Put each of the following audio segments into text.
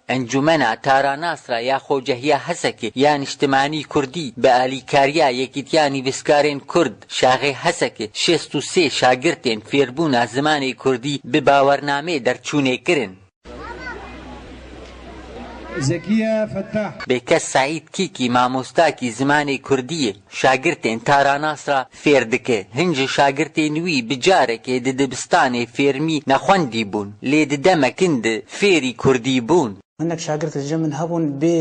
Encûmena Taranasra ya Xocehiya Hesekê ya Niştimanî Kurdî bi alîkariya Yekîtiya Nivîskarên Kurd, Şaxê Hesekê şêst û sê şagirtên fêrbûna zimanê Kurdî bi bawernameyê derçûnê kirin. Zekiye Fettah. Bêkes Seîd Kîkî mamostakî zimanê Kurdî ye. Şagirtên Taranas re fêr dike. Hin ji şagirtên wî bi carekê di dibistanê fêrmî nexwendî bûn, lê di demek hin di fêrî kurdî bûn. Hinek şagirt li cem min hebûn bê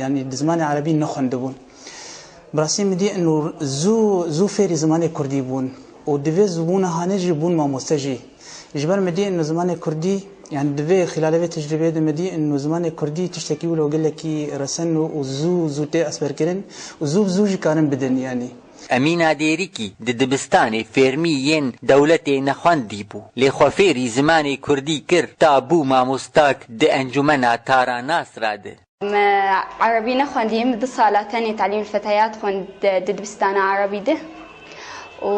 yanî bi zimanê erebî nexwendibûn. Bi rastî min dî in û zû zû fêrî zimanê kurdî bûn û di vê zûbûna hanê jî bûn mamoste jî. Ji ber medya ên zimanê kurdî yanî divê xîlalê vê tecrîbeyê de medya ên zimanê kurdî tiştekî wilo gelekî resen û zû zû tê esperkirin û zû bi zû jî karin bidin yanî. Emîna Dêrikî di dibistanê fêrmî yên dewletê nexwendî bû lê xwe fêrî zimanê kurdî kir ta bû mamosta di encûmena Tara Nasra de. Me erebî nexwendiye min du sala tenê telîmul feteyat xwend di dibistana erebî de û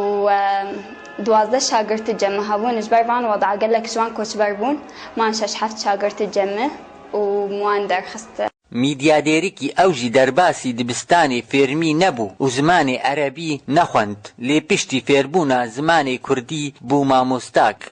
duwazdeh şagirti cem min hebûn ji ber van weda gelek ji wan koçber bûn man şeş heft şagirti cem min û min wan derxist. Mîdya Dêrikî ew jî derbasî dibistanê fêrmî nebû û zimanê erebî nexwend lê piştî fêrbûna zimanê kurdî bû mamosta.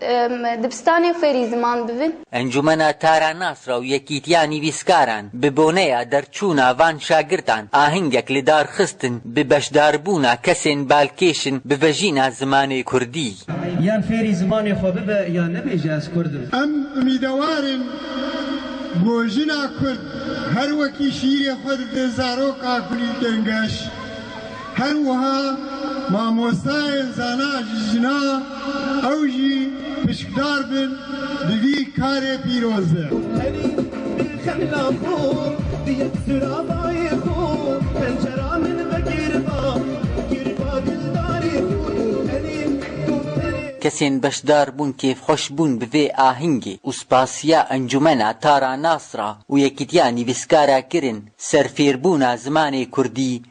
Em dibistanê fêrî ziman bibin. Encûmena Tara Nasra û Yekîtiya Nivîskaran bi boneya derçûna van şagirdan ahengek li dar xistin bi beşdarbûna kesên balkêş in bi vejîna zimanê kurdî. Yan fêrî zimanê xwe bibe yan nebêje ez kurd im. Em umîdewar in ku jina kurd her wekî şîîrê xwe dide zaroka kulîlkên geş. Her wiha mamostayên zana ji jina ew jî pişkdar bin di vî karê pîroz de. Kesên beşdar bûn kêfxweş bûn bi vê ahingê û spasiya Encûmena Tara Nasra û Yekîtiya Nivîskara kirin ser fêrbûna zimanê Kurdî